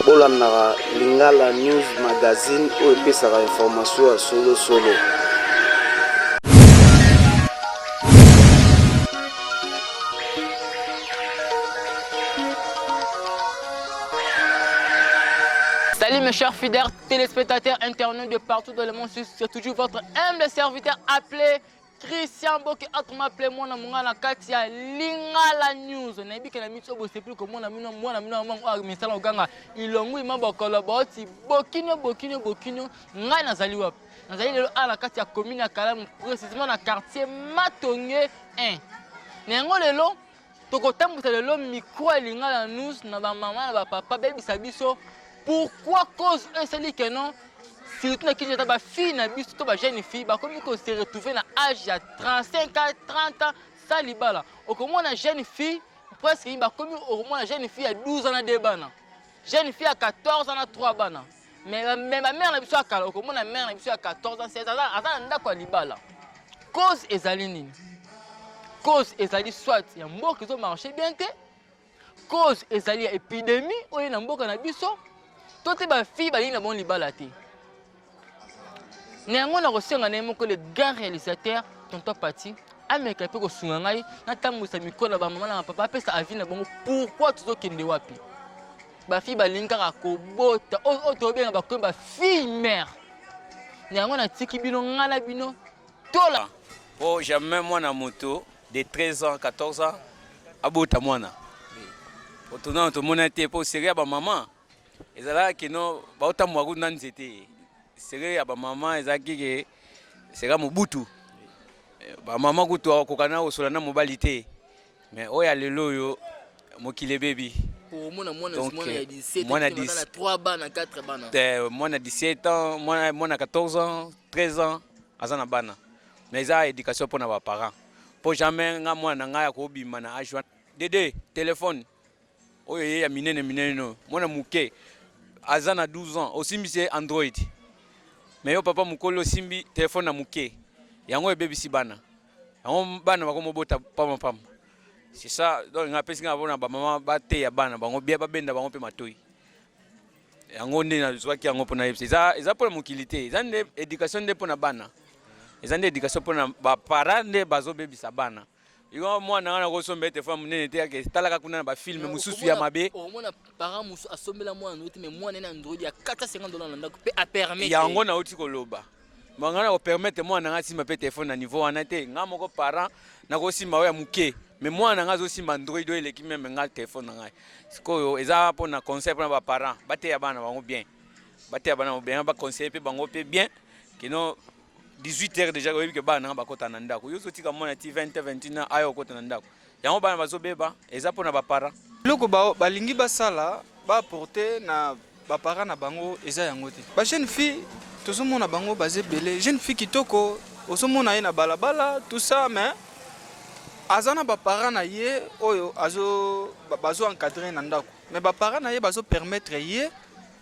bolandaka lingala news magazine oyo epesaka information ya solosolo Salut mes chers fidèles téléspectateurs internautes de partout dans le monde, c'est toujours votre humble serviteur appelé Christian Boke Akma Ple mwana monga na kati ya Lingala News nayebi ke na miso bosepeli komona mino mwana mino yango oyo misala koganga ilongwi ma bokolo boti bokino bokino bokino ngai nazali wapi nazali lelo awa na kati ya commune ya Kalamu precisement na quartier Matonge 1 na yango lelo tokotambwisa lelo mikro ya lingala nous na bamama na bapapa bebisa biso pourquoi cause oyo esali ke non surtout na kinshasa bafille na biso to bajeune fille bakomi kose retrouve na age ya 35 a 30 ans sa libala okomona jeune fille presque bakomi okomona jeune fille ya 12 ans na 2 bana jeune fille ya 14 ans na 3 bana Mais euh, mais ba mère na biso ya kala okomona mère na biso ya 14 ans 16 ans aza na ndako ya libala. Cause ezali nini? Cause ezali soit ya mboka ezo marcher bien te. Cause ezali ya epidemie oyo na mboka na biso. To te ba fille balingi na bon libala te. Na yango nakosenga na ye moko le grand réalisateur tonton Pati ameka mpe kosunga ngai natambwisa mikolo ya bamama na bapapa apesa avi na bango pourkui tozokende wapi ba fille balingi kaka kobota oyo tobenga bakomi ba fille mère na yango natiki bino ngai na bino tola ah, po jamais mwana moto de 13 ans 14 ans abota mwana otonana tomona te po serie ya bamama ezalaka kino baotambola kutu na nzete serie ya bamama ezalaki ke seka mobutu eh, bamama kutu akokana kosola na mobali te Mais oyo ya lelo oyo mokili ebebi. Omona mwana Donc, mwana ya eh, 17 mwana ans, mwana 10 na 3 bana 4 bana. Eh, mwana 17 ans mwana mwana 14 ans 13 ans aza na bana mais eza éducation mpo na baparent mpo jamais nga mwana na ngai akobima na age wana dede telefone Oyo ye ya minene minene no, mwana muke aza na 12 ans osimbisi ye Android. Mais yo papa mukoli osimbi telephone na muke. Yango ebebisi bana. Yango bana bakomo bota pamba pamba. C'est ça donc nga pesi nga bona ba maman ba teya bana bango bien ba benda bango pe matoyi. Yango nde na zwaki yango pona yebisa. Eza eza pona mokili te. Eza nde education nde pona bana. Eza nde education pona ba parents nde bazo bebisa bana. Yo mwana wana ko sombe te femme nene te yake talaka kuna na ba film mususu ya mabe. O mona parent musu asombela mwana ndote mais mwana na ndroid ya 450 dollars na ndako pe a permettre. Ya ngo na uti ko loba. Manga na ko permettre mwana nga simba pe téléphone na niveau wana te. Nga moko parent na ko simba ya muke. Mais mwana nga zo simba ndroid oyo eleki meme nga téléphone na ngai. Sikoyo eza po na conseil pona ba parents. Ba teya bana bango bien. Ba teya bana bango bien ba conseiller pe bango pe bien. Kino 18 heures déjà oyebi ke bana nanga bakota na ndako yo ozotika mwana ti 20 21 aya okota na ndako yango bana bazobeba eza mpo na baparent eloko balingi basala baaporte na baparent na bango eza yango te bajeune fille tozomona bango baza ebele jeune fille kitoko ozomona ye na balabala tout ça mais aza na baparent na ye oyo bazo encadre na ndako mais baparent na ye bazopermettre ye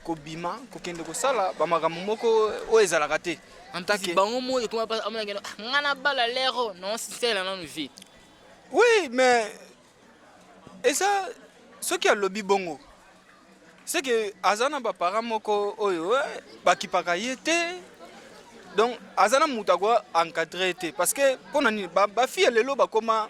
kobima kokende kosala bamakambo moko oyo ezalaka te antake bango moi ekoma mpasi amona kende ah, ngai nabala lero non sisela nanu vie oui mais eza soki alobi bongo seke aza na baparent moko oyo eh, bakipaka ye te donc aza na moto akoa encadre ye te parce que mpo na nini bafille ba lelo bakoma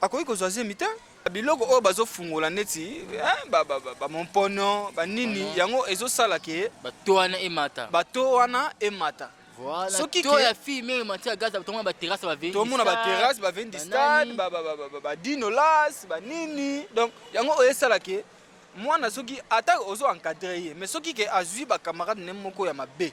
akoki kozwa zemi te biloko oyo bazofungola neti bamompono eh, ba, ba banini uh -huh. yango ezosala ke bato wana emata bato wana emata Voilà. soki to ya fille meme mati ya gaza tomona baterrasse bavendi tomona baterrasse bavendi stade badinolas banini donc yango oyo esala ke mwana soki ata ozo encadre ye mais soki ke azwi bacamarade ne moko ya mabe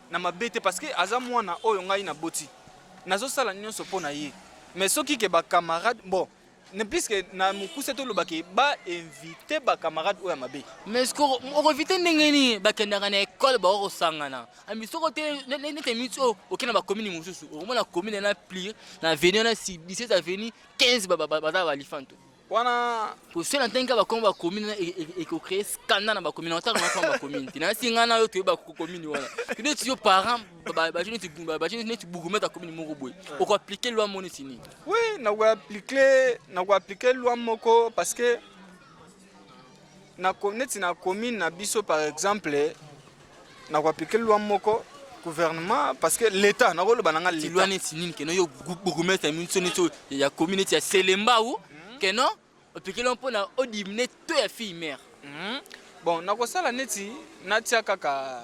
na mabe te parce que aza mwana oyo ngai naboti nazosala nyonso mpo na ye mais soki ke bacamarade bon ne puisque na mokuse toloba ke bainvite bacamarade oyo ya mabe mais okoinvite ndenge nini bakendaka na ekole bako kosangana ami soko te nete miti oyo oke na bakomini mosusu okomona komine na plir na avenue na 17 avenue 15 baza balifanto wana kosi na ntangi kaka bakoma bakomini wana ekocree scandale na bakomini wana ntango nakoma bakomini te nayasi ngai na yo toyeba komini wana neti yo parent batie neti batie neti bourgmètre ya komini moko boye okoaplike loi moko neti nini oui nakoaplike nakoaplike loi moko parce que na neti na commune na biso par exemple na kuapike lwa moko gouvernement parce que l'état na koloba na nga l'état lwa neti nini keno yo bourgmestre minso neti ya commune neti ya Selemba ou hmm. keno opike lwa mpo na odimine to ya fille mère hmm. bon nakosala neti natia kaka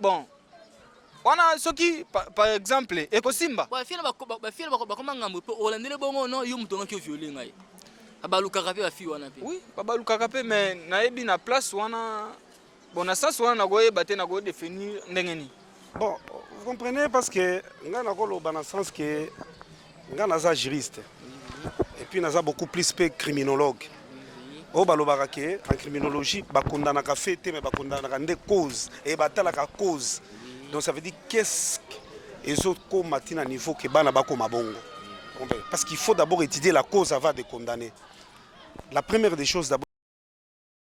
bon wana soki par exemple ekosimba bakoma ngambo mpe olandele bongo no yo moto ongaki oviole ngai abalukaka mpe bafi wana mpe oui babalukaka mpe mais nayebi na place wana bon na sens wana nakoyeba te nakodefinir ndenge nini bon vous comprenez parce que ngai nakoloba na sens que Nga naza juriste et puis naza beaucoup plus pe criminologue oyo balobaka ke en criminologie bakondanaka fe te me bakondanaka nde cause e batalaka cause donc ça veut dire qu'est-ce ezokoma ti na niveau ke bana bakoma bongo parce qu'il faut d'abord étudier la cause avant de condamner la première des choses d'abord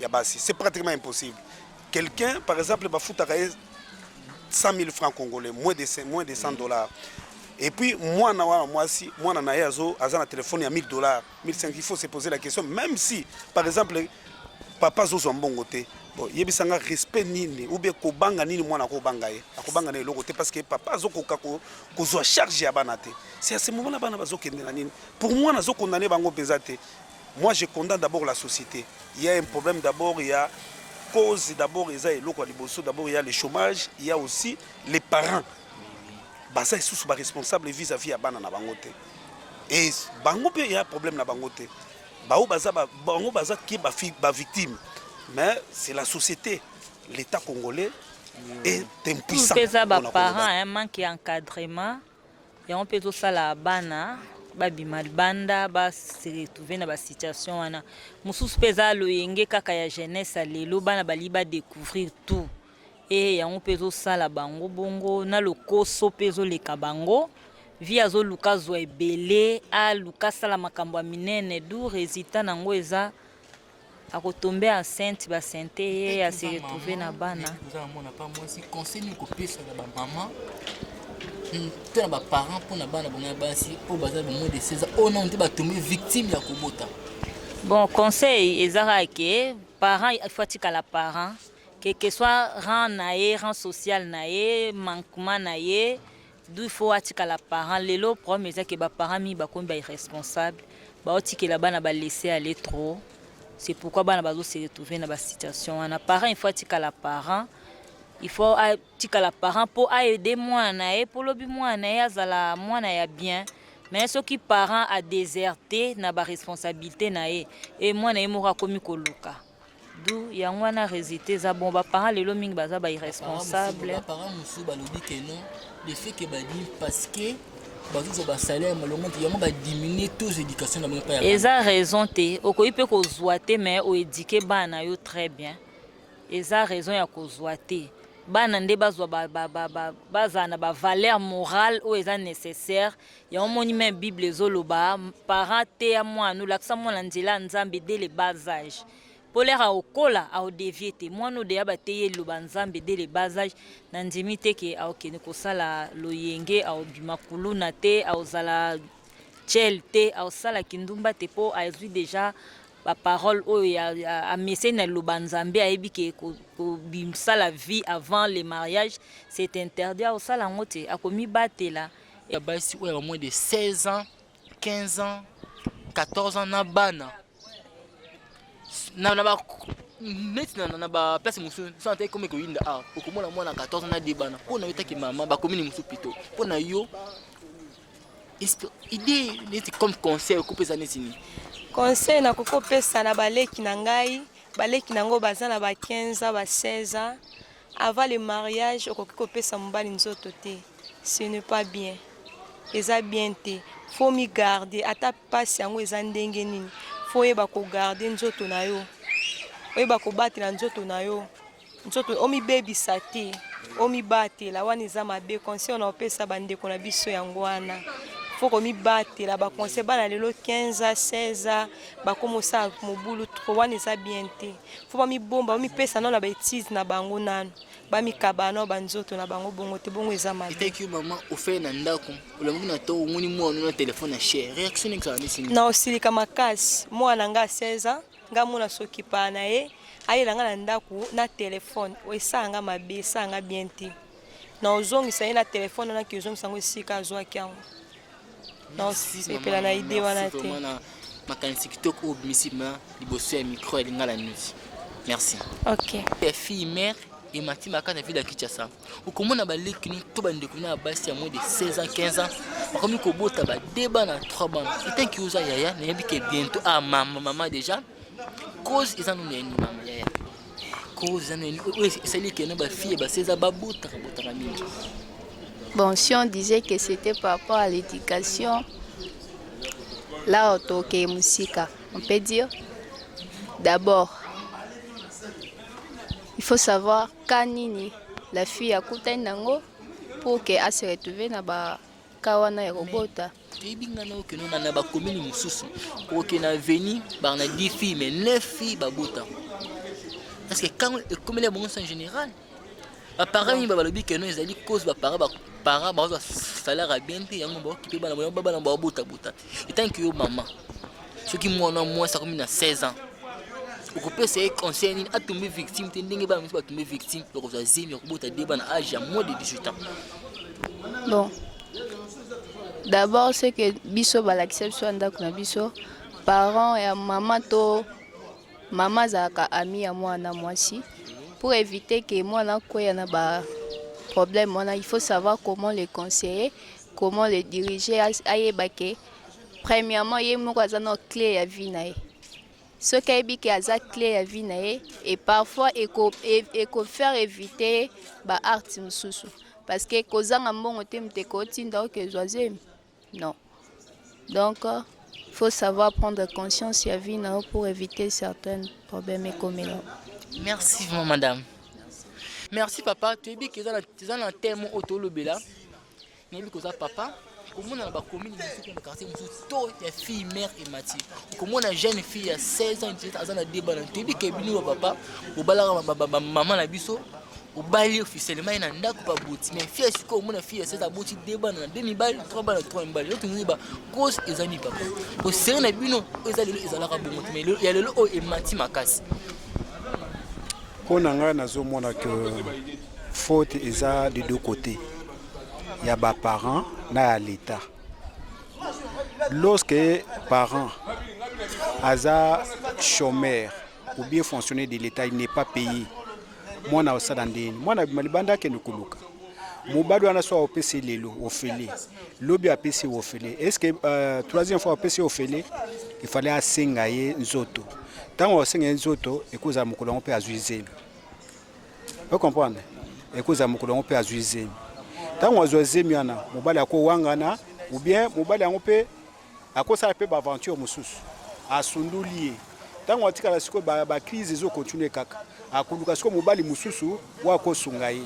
ya basi c'est pratiquement impossible quelqu'un par exemple bafutaka ye 100 000 francs congolais moins de 100, moins de 100 dollars et puis mwana wana mwasi mwana na ye azo aza na telefone ya 1000 dollars 1500 il faut se poser la question même si par exemple papa azozwa mbongo te bon, yebisa nga respect nini ou bien kobanga nini mwana akobanga ye akobanga na eloko te parce que papa azokoka ko- kozwa charge ya bana te c'est à ce moment là bana bazokende na nini pour mwana azokondane bango mpenza te Moi je condamne d'abord la societe il ya un problème d'abord ya cause d'abord eza eloko ya liboso d'abord ya le chômage il ya aussi les parents baza lisusu ba responsable vis à vis ya bana na bango te et bango mpe ya problème na bango te baoyo baza bango baza ki ba victime mais c'est la société l'état congolais est impuissant eza ba parents un manque ya encadrement yango mpe ezosala bana babima libanda base retrouve na basituation wana mosusu mpe eza loyenge kaka ya jeunesse ya lelo bana balingi badecouvrir tout e yango mpe ezosala bango bongo na lokoso mpe ezoleka bango vi azoluka azwa ebele aluka asala makambo ya minene du resultat na yango eza ako tomber enceinte ba sente ye a se retrouver na bana oza na mwana pa mwasi conseil nini kopesa na ba maman mpe na ba parents mpo na bana bango ya basi oyo baza ba moins de 16 ans oyo nano te batombe victime ya kobota bon conseil ezaka ke parent il faut atikala parent que que soit rang na ye rang social na ye manquement na ye D'où il faut atikala parent. Lelo problème eza que ba parents mingi bakomi ba irresponsable. Baotikela bana ba laisser aller trop. C'est pourquoi bana bazo se retrouver na ba situation wana. Parent il faut atikala parent. Il faut atikala parent po a aider mwana na ye po lobi mwana na ye azala mwana ya bien. Mais soki parent a deserter na ba responsabilité na ye et mwana ye moko akomi koluka. du yango wana resultat eza bon baparent lelo mingi baza ba irresponsable baparent mosusu balobi ke non le fait ke badimi parce que bazozwa basalaire malonga te yango badiminue taux éducation na bango epai ya eza raison te okoki mpe kozwa te mais oedike bana na yo très bien eza raison ya kozwa te bana nde bazwa bazala na bavaleur morale oyo eza nécessaire yango moni meme bible ezoloba parent teya mwana olakisa mwana nzela ya nzambe de le bas age mpo lere aokola aodevie te mwana odeya bateyi eloba nzambe de le bas age nandimi te ke aokende kosala loyenge aobima kuluna te aozala chel te aosala kindumba te mpo azwi deja baparole oyo ameseni na liloba nzambe ayebi ke kobisala vie avant le mariage c'est interdit aosala yango te akomibatela ya basi oyo ya moins de 16 ans 15 ans 14 ans na bana na na ba neti na na ba place mosusu so ata ekomi koyinda awa ah, okomona mwana 14 ans na de bana mpo na yo taki mama bakomini mosusu pito mpo na yo idée neti comme conseil okopesa neti nini conseil nakoki kopesa na baleki na ngai baleki na yango baza na ba 15 ans ba 16 ans Avant le mariage okoki kopesa mobali nzoto te, ce n'est pas bien, eza bien te, faut mi garder ata pasi yango eza ndenge nini, faut yeba ko garder nzoto na yo, oyeba kobatela nzoto na yo, nzoto omibebisa te, omibatela wana eza mabe. Conseil na opesa bandeko na biso yango wana faut komibatela ba conseil bana lelo 15 16 bakoma osala mobulu trop wana eza bien te. fo bamibomba bamipesa nano na baetise na bango nano bamikaba nao banzoto na bango bongo te bongo eza mabeeteki mama ofele na ndako olamuki na to omoni mwana na telefone ya chere réaction ezala nisi na osilika makasi mwana nga 16 ans nga mona sokipaa na ye ayela nga na ndako na telefone esala nga mabe esala nga bien te na ozongisa ye na telefone wana kiozongisa yango esika azwaki yango naosepela na ide wana te makanisi kitoko oyo obimisi ma liboso ya micro ya lingala news merci ok ya fille mère emati maka na ville ya kinshasa okomona baleki no to bandeko na basi ya moins de 16 ans 15 ans bakomi kobota ba 2 bana 3 bana etanki oza yaya nayebi ke bientôt ah mama mama déjà cause eza nuna enuna yaya cause eza nuna oyo esali kena bafille basi eza babotaka botaka mingi bon si on disait que c'était par rapport à l'éducation là otokee mosika on peut dire d'abord il faut savoir ka nini la fille akutani nango pour que a se retrouve na ba ka wana ya kobota mm. toyebi nga na okeno na na bakomini mosusu oke na veni baa na 10 filles mais 9 filles babota parce que quand ekomeli ya bango en général baparent mingi balobi keno ezali cause baparent baparent bazwa salaire ya bien te yango baokipe bana bango babana babotabota etanke yo mama soki mwana mwasi akomi na 16 ans okopesa ye conseil nini atombe victime te ndenge bana mosusu batombe victime okozwa zemi okobota de bana age ya moins de 18 ans bon D'abord ce que biso balakisa biso ya ndako na biso parent ya mama to mama azalaka ami ya mwana mwasi pour éviter que mwana akweya na ba problème wana il faut savoir comment le conseiller comment le diriger ayeba ke premièrement ye moko aza na clé ya vie na ye soki ayebi ke aza cle ya vie na ye et parfois eko, e, eko faire eviter ye ba art mosusu parce que kozanga mbongo te moto ekotinda oke ozwa zemi non donc faut savoir prendre conscience ya vie na yo pour éviter certains problèmes ekomela merci vraiment madame merci papa toyebi ke eza na temo oyo tolobela nayebi koza papa okomona na bakomini mosusu na quartier mosusu to ya fille mère emati okomona jeune fille ya 16 ans jet aza na deba na toyebi ke bino ba papa bobalaka bamama na biso obali officiellement ye na ndako baboti mais fille sikoyo omona fille ya 16 aboti de bana na de mibali trois bana trois mibali yo tonoki ba cause eza nini papa boseri na bino oyo eza lelo ezalaka bongo te mais ya lelo oyo emati makasi mpo na ngai nazomona ke faute eza de deux côtés ya ba parents na ya l'etat lorsque parent aza chômeur ou bien fonctionnaire de l'etat il n'est pas payé mwana osala ndeni mwana abima libanda akende koluka mobali wana so opesi lelo ofele lobi apesi ofele est ce que euh, troisième fois opesi ofele il fallait asenga ye nzoto ntango asenga ye nzoto ekozala mokolo yango mpe azwi zelo Vous comprenez Ekoza mokolo yango mpe azwi zemi. Ntango azwa zemi wana, mobali akowangana ou bien mobali yango mpe akosala mpe baaventure mosusu, asundoli ye. Ntango atikala sikoyo bacrise ezo continue kaka, akoluka sikoyo mobali mosusu oyo akosunga ye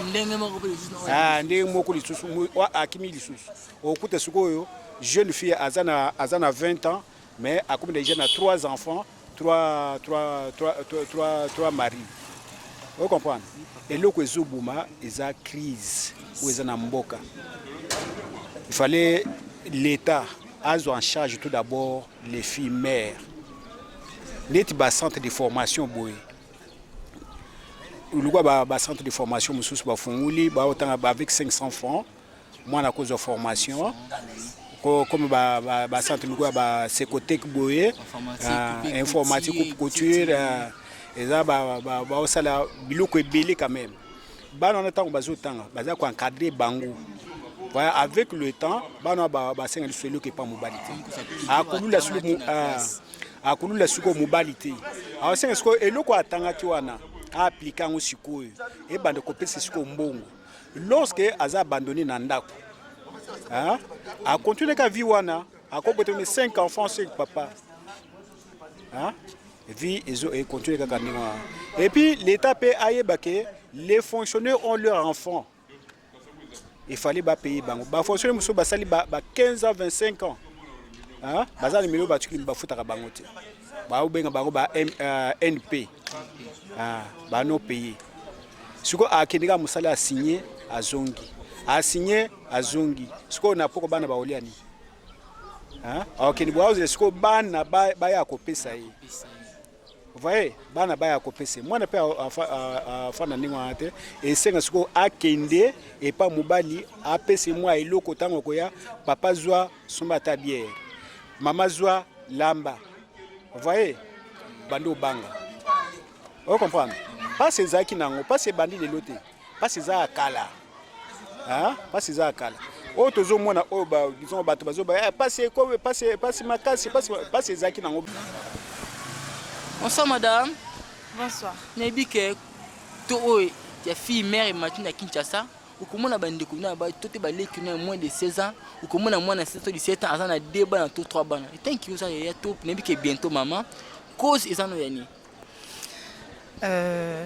ndenge moko mpe lisusu ah, ndenge moko lisusu akimi lisusu okuta sikoyo jeune fille aza na aza na 20 ans Mais akomi deja na trois enfants, trois, trois, trois, trois, trois, trois maris. Vous comprenez Eloko ezo buma eza crise ou eza na mboka. Il fallait l'État azo en charge tout d'abord les filles mères. Neti ba centre de formation boye. Lukwa ba, ba centre de formation mususu bafunguli baotanga ba avec 500 francs mwana akozwa formation comme ba, ba, ba centre moko ya ba secotec boye euh, informatique ou couture euh, eza baosala biloko ebele quand même bana wana ntango bazotanga baza koencadre bango Voilà, avec le temps, bana basenga lisusu eloko epa mobali te akolula sulu akolula sikoyo mobali te aosenga sikoyo eloko atangaki wana aaplike yango sikoyo ebanda kopesa sikoyo mbongo lorsque aza abandonné na ndako hein? a continuer ka vie wana akobota ni 5 enfants sur papa hein? vie ezo e continuer kaka ndenge wana et puis l'état pe ayeba ke les fonctionnaires ont leur enfant il fallait ba payer bango ba fonctionnaires mususu basali ba, ba 15 ans 25 ans hein? baza na milio batuki bafutaka bango te baobenga bango ba euh, np hein? ba non payer sikoyo akende kaka mosala asigne azongi asigne azongi sikoyo na poko bana baolia nini akende bwaozela sikoyo bana baya kopesa ye voye bana baya kopesa ye mwana mpe afanda ndenge wana te esenga sikoyo akende epa mobali apesa ye mwa eloko ntango akoya papa zwa somba ata biere mama zwa lamba voye bandi obanga Oyo comprendre? Pasi ezalaki nango, pasi ebandi lelo te. Pasi eza ya kala. Hein? Pasi eza ya kala. Oyo tozomona oyo ba disons bato bazoba eh, pasi ekobe pasi pasi makasi pasi pasi ezalaki nango. Bonsoir madame. Bonsoir. Nayebi ke to oyo ya fille mère Martin na Kinshasa okomona bandeko na ba to te baleki na moins de 16 ans okomona mwana 16 to 17 ans aza na 2 bana to 3 bana etanki oza ya top nayebi ke bientôt mama cause eza no ya nini Euh,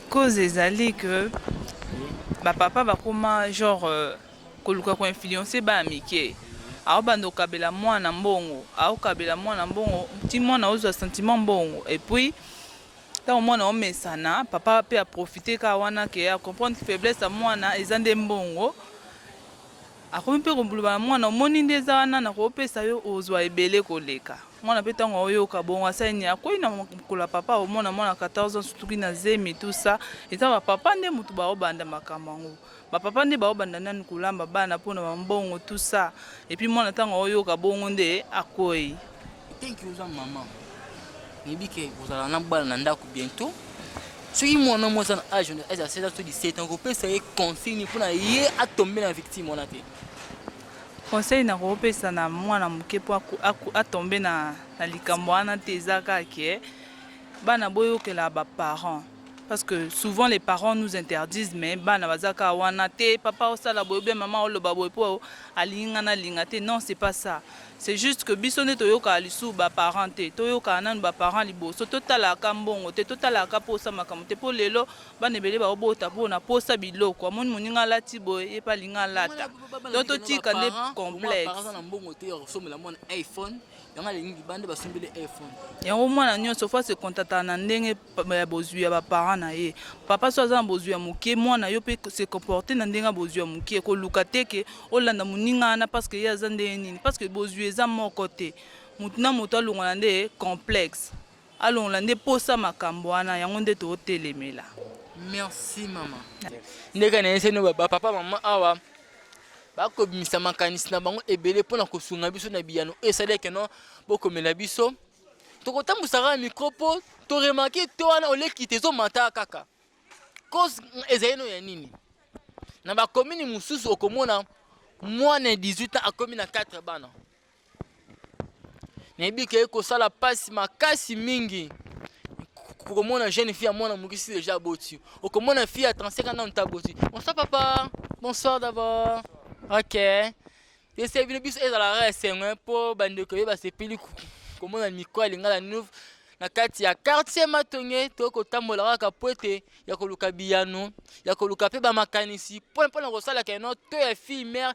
cause ezali que bapapa bakoma genre euh, koluka koinfluence bana mike aobanda okabela mwana mbongo aokabela mwana mbongo ti mwana ozwa sentiment mbongo epuis ntango mwana omesana papa mpe aprofite kaka wana ke acomprendre faiblesse ya mwana eza nde mbongo Akomi mpe kobloba na mwana, omoni nde eza wana nakopesa yo ozwa ebele koleka. Mwana mpe ntango aoyoka bongo asali nini? Akwei na makolo ya papa, omona mwana 14 ans asutuki na zemi tout ça. Eza ba papa nde moto baobanda makambo yango. Ba papa nde baobanda nanu kolamba bana mpo na ba mbongo tout ça. Et puis mwana ntango aoyoka bongo nde akwei. Thank you oza maman. Nayebi ke kozala na bana na ndako bientôt. Soki mwana mwa aza na age na age ya 16 ans to 17 ans kopesa ye consigne mpo na ye atombe na victime wana te. Conseil na kopesa na mwana moke mpo atombe na, na likambo wana te eza kaka ke bana boyokela ba parents parce que souvent les parents nous interdisent mais bana baza kaka wana te papa osala boye bien mama oloba boye mpo alingi nga nalinga te non c'est pas ça C'est juste que biso nde toyokaka lisusu ba parents te. Toyokaka nanu ba parents liboso. Totalaka ka mbongo te. Totalaka ka posa makambo te. Po lelo bana ebele baobota po na posa biloko. Amoni moninga alati boye ye pe alingi alata. Donc totika nde complexe. Yango mwana nionso faut a se contentaka na ndenge ya bozwi ya baparent na ye papa so aza na bozwi ya moke mwana yo mpe se comporte na ndenge ya bozwi ya moke koluka te ke olanda moninga wana parce que ye aza ndenge nini parce que bozwi eza moko te motu na moto alongola nde complexe alongola nde posa makambo wana yango nde tootelemela merci mama ndenge na yeseni bapapa mama awa bakobimisa makanisi na bango ebele mpo na kosunga biso na biyano esaleke no bokomela biso Tokotambwisa kaka micro po to remarquer to wana oleki te ezomata kaka. Cause ezali no ya nini? Na ba commune mosusu okomona moins de 18 ans akomi na 4 bana. Nayebi ke ekosala pasi makasi mingi okomona jeune fille ya mwana mokisi deja aboti okomona fille ya 35 ans nanu te aboti bonsoir papa bonsoir d'abord ok Ese bino biso ezala kaka esengo eh, mpo bandeko ye basepeli komona mikro ya lingala nouve na kati ya quartier matonge tokoki kotambola kaka mpo ete ya koluka biyano ya koluka mpe bamakanisi mpo mpo na kosalaka eno to ya fille mare